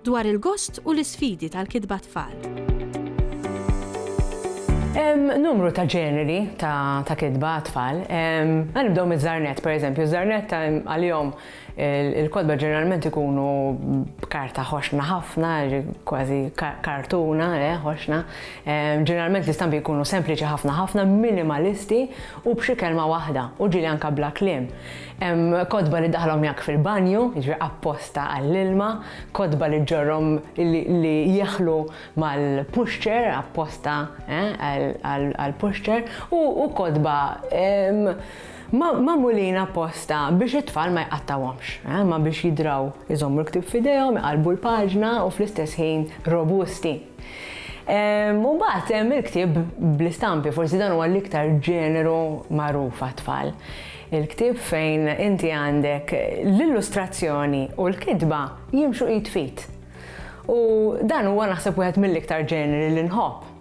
Dwar il-gost u l-isfidi tal-kitba tfal. Hemm numru ta' ġeneri ta' kitba għat-tfal. Ħa nibdew miż-żarnett, pereżempju. Ż-żarnett għalihom il-kotba ġeneralment ikunu b'karta ħoxna ħafna, kważi kartuna ħoxna. Ġeneralment l-istampi jkunu sempliċi ħafna ħafna, minimalisti u b'xi kelma waħda, u ġieli anke bla kliem. Hemm kotba li daħlhom jgħakk fil-banju, jiġifieri apposta għall-ilma, kotba li ġġorrhom li jeħlu mal-pushchair, apposta għall-pushchair, u kotba magħmulin apposta biex it-tfal ma jqattgħuhomx, imma biex jidraw iżommu l-ktieb f'idejhom, iqallbu l-paġna u fl-istess ħin robusti. U mbagħad hemm il-ktieb bl-istampi, forsi dan huwa l-iktar ġeneru magħruf għat-tfal. Il-ktieb fejn inti għandek l-illustrazzjoni u l-kitba jimxu id f'id. U dan huwa naħseb wieħed mill-iktar ġeneri li nħobb.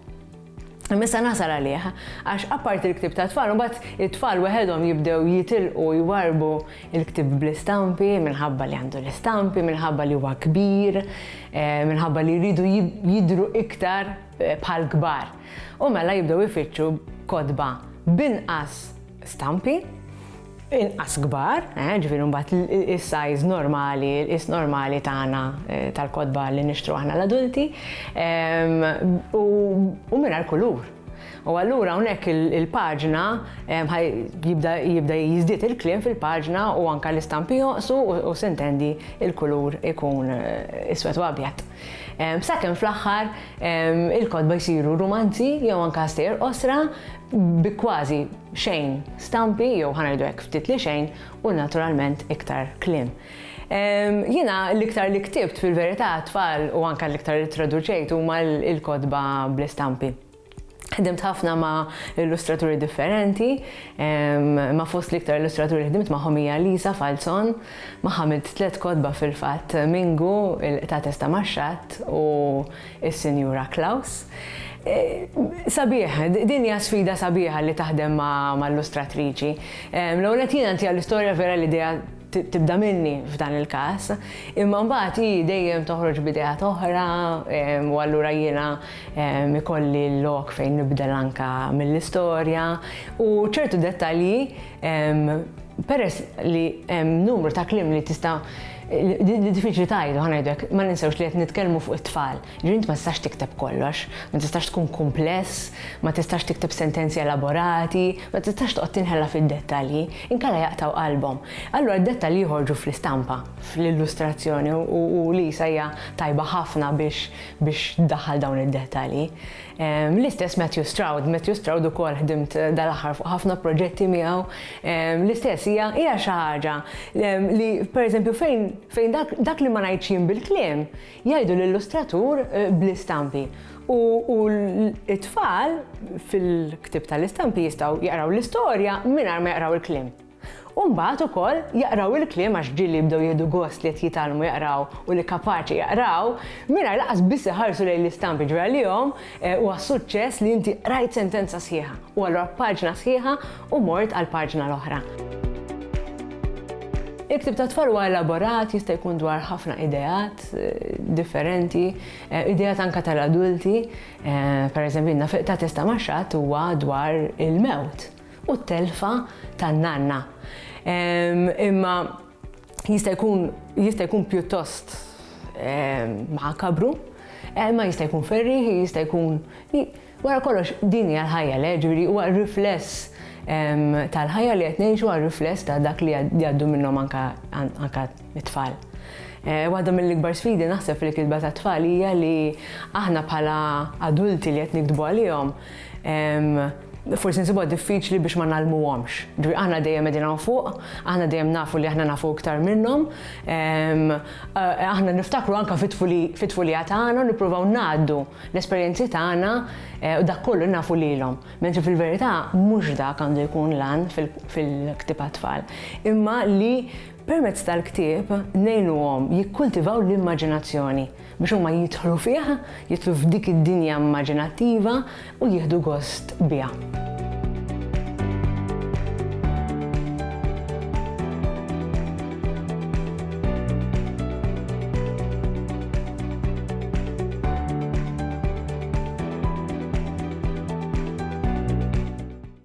Missa nasal għalih, għax apparti l-ktib ta' tfal, mbagħad it-tfal weħedhom jibdew jitilqu jwarbu il-ktib bl-istampi, minħabba li għandu l-istampi, minħabba li huwa kbir, eh, minħabba li jridu jidru iktar eh, bħal kbar. U mela jibdew ifittxu kodba binqas stampi inqas kbar, eh, ġifieri mbagħad is-size normali, is normali tagħna eh, tal-kodba li nixtru aħna l-adulti u mingħajr kulur. U allura hawnhekk il-paġna jibda jiżdied il-kliem fil-paġna u anka l-istampi joqsu u sintendi il-kulur ikun eh, iswed u abjad. Sakemm fl-aħħar il-kodba jsiru rumanzi jew anka sejr osra bi kważi xejn stampi jew ħa ngħidu hekk ftit li xejn u naturalment iktar kliem. Jiena l-iktar li ktibt fil-verità tfal u anke l-iktar li traduċejt huma l-kotba bl-istampi. Ħdimt ħafna ma' illustraturi differenti, ma' fost l-iktar illustraturi ħdimt ma' ħomija Lisa Falzon, ma' ħamilt tlet kodba fil-fat Mingu, il-qta testa maċċat u is-Sinjura Klaus. Sabiħ, din hija sfida sabiħa li taħdem ma' illustratriċi. L-ewwel qed jiena ntiha l-istorja vera l-idea tibda minni f'dan il-każ, imma mbagħad hi dejjem toħroġ b'idea oħra u allura jiena ikolli l-lok fejn nibdel anka mill-istorja u ċertu dettalji Peress li hemm numru ta' klim li tista' li diffiċli tajdu ħanajdek, ma ninsewx li qed nitkellmu fuq it-tfal. Ġint ma tistax tikteb kollox, ma tistax tkun kumpless, ma tistax tikteb sentenzi elaborati, ma tistax toqgħod tinħela fid-dettalji, inkella jaqtgħu qalbhom. Allura d-dettalji joħorġu fl-istampa, fl-illustrazzjoni u Lisa hija tajba ħafna biex tdaħħal dawn id-dettalji. L-istess Matthew Stroud, Matthew Stroud ukoll ħdimt dal-aħħar fuq ħafna proġetti miegħu. L-istess hija hija xi ħaġa li pereżempju fejn fejn dak li ma ngħidx jien bil-kliem jgħidu l-illustratur eh, bl-istampi. U t-tfal fil-ktib tal-istampi jistgħu jaqraw l-istorja mingħajr ma jaqraw il-kliem. U mbagħad ukoll jaqraw il-kliem għax ġieli jibdew jieħdu gost li qed jitgħallmu jaqraw u li kapaċi jaqraw, mingħajr lanqas biss iħarsu lejn l-istamp jiġri għalihom, eh, huwa suċċess li inti qrajt sentenza sħiħa u allura paġna sħiħa u mort għal paġna l-oħra. Il-ktib ta' tfal huwa elaborat, jista' jkun dwar ħafna ideat eh, differenti, eh, ideat anka tal-adulti, eh, per eżempju, ta' testa maċċat huwa dwar il-mewt. u t-telfa tan-nanna. Imma jista' jkun jista' jkun pjuttost makabru, ma jista' jkun ferri, jista' jkun wara kollox din hija l-ħajja le, ġifieri huwa rifless tal-ħajja li qed ngħixu għal rifless ta' dak li jgħaddu minnhom anka anka t-tfal. Eh, waħda mill-ikbar sfidi naħseb fil-kitba ta' tfal hija li aħna bħala adulti li qed nikdbu għalihom forsi nsibuha diffiċli biex ma nagħlmuhomx. Ġifieri aħna dejjem qegħdin hawn fuq, aħna dejjem nafu li aħna nafu iktar minnhom. Ehm, eh, aħna niftakru anke fit-tfulija tagħna u nippruvaw ngħaddu l-esperjenzi tagħna eh, u dak kollu nafu lilhom. Mentri fil-verità mhux dak għandu jkun lan fil-ktiba tfal. Imma li Permezz tal-ktieb ngħinuhom jikkultivaw l-immaġinazzjoni biex huma jidħlu fih, jidħlu f'dik id-dinja immaġinattiva u jieħdu gost biha.